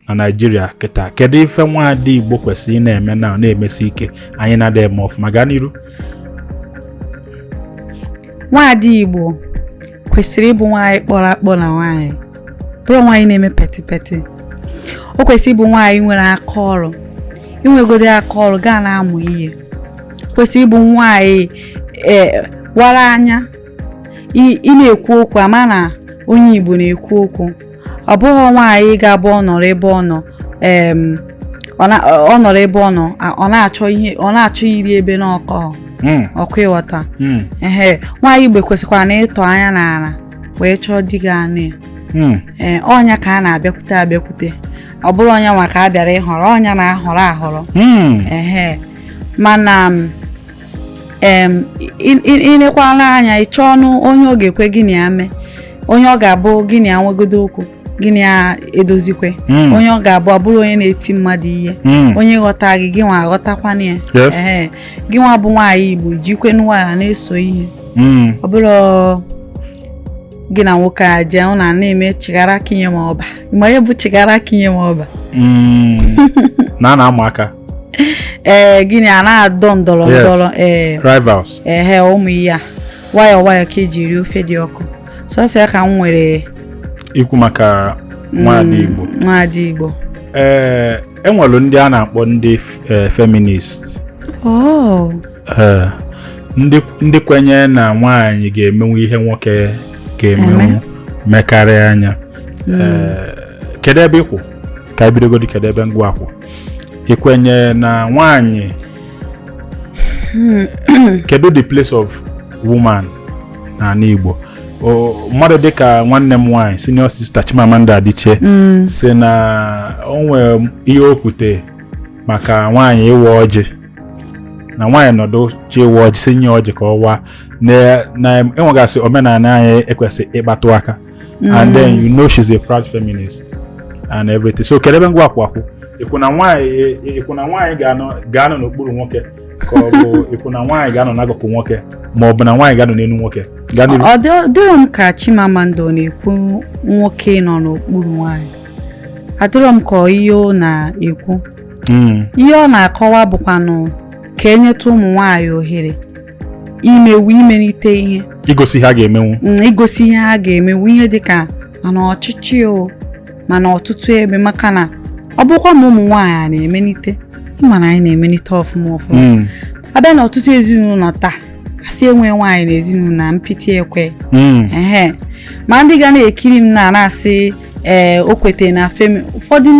na naijiria kịta kedu ife nwaada igbo kwesịrị ị na-eme na na-emesi ike anyị na-ada eme ọfụma gaa n'iru nwaada igbo kwesịrị ịbụ nwaanyị kpọrọ akpọ na nwaanyị ọ bụrọ nwaanyị na-eme peti peti o kwesịrị ịbụ nwaanyị nwere aka ọrụ i nwegodi aka ọrụ gaa na-amụ ihe kwesịrị ịbụ nwaanyị e, wara anya ị na-ekwu okwu a ma na onye Igbo na-ekwu okwu ọ bụrọ nwaanyị ga-abụ ọ nọrọ ebe ọ nọ ọ nọrọ ebe ọ nọ ọ na-achọ ihe ọ na-achọ iri ebe nwoke hmm. okay ị ghọta hmm. ehe nwaanyị Igbo kwesịkwara na ịtọ anya n'ala wee chọọ di ga-anụ ya hmm. ee ọ nya ka a na-abịakwute abịakwute ọ bụrọ nya nwa ka a bịara ịhọrọ ọ nya na-ahọrọ ahọrọ ehe mana i nekwana anya ị chọọnụ onye ọ ga-ekwe gị na ya mee onye ọ ga-abụ gị na ya nwegodu okwu gị na ya edozikwe hmm. onye ọ ga-abụ abụrọ onye na-eti mmadụ ihe hmm. onye ghọta gị gị nwa aghọtakwana ya ee gị nwa bụ nwaanyị igbo jikwe nwayọọ na-eso ihe hmm. ọ bụrọ gị na nwoke a jee ọ na na-eme chigara kinye ma ọba ma ya bụ chigara kinye ma ọba na na-ama aka ee gịnị a na-adọ ndọrọ ndọrọ ee rivals ehe ụmụ ihe a nwayọọ nwayọọ ka e ji eri ofe dị ọkụ sọsọ ya ka m nwere ikwu maka mm, nwaada Igbo nwaada Igbo ee e nwere ndị a na-akpọ ndị e, feminist oh. e, ndị kwenye na nwaanyị ga-emenwu ihe nwoke ga-emenwu mekarịa nya mm. e, kedu ebe ị kwụ ka e bidogodi kedu ebe gị nwa kwụ ị kwenyere na nwaanyị kedu the place of woman n'ala Igbo O- mmadụ dịka nwanne m nwaanyị senior sister Chimamanda Adichie Mm. sị na o nwere ihe o kwute maka nwaanyị ịwa ọjị na nwaanyị nọdụ chọọ ịwa ọjị sị nye ya ọjị ka ọ waa na na e nwegasị omenala anyị e kwesị ịkpatụ aka mm. and then you know she's a proud feminist and everything so kedụ ebe gị nwa kwụ akwụ ị kwụ na nwaanyị ị kwụ na nwaanyị ga-anọ n'okpuru nwoke ka ọ bụ ị kwụ na nwaanyị ga-anọ n'akụkụ nwoke ma ọ bụ na nwaanyị ga-anọ n'elu nwoke ọ dịrọ m ka Chimamanda ọ na-ekwu nwoke nọ n'okpuru nwaanyị adịrọ m ka ihe ọ na-ekwu hmm. ihe ọ na-akọwa bụkwanụ ka e nyetụ ụmụ nwaanyị ohere imenwu imelite ihe igosi ihe ha ga-emenwu mm, igosi ihe ha ga-emenwu ihe dị ka ma na ọchịchị o ma na ọtụtụ ebe maka na ọ bụkwa ma ụmụ nwaanyị a na-emelite ị ma na anyị na-emelite ọfụma ọfụma mm. a bịa na ọtụtụ ezinụlọ taa a sị enwe nwaanyị na ezinụlọ na mpịtị ekwe mm. ma ndị ga na-ekiri m na na-asị ee eh, o kwete na femi ụfọdụ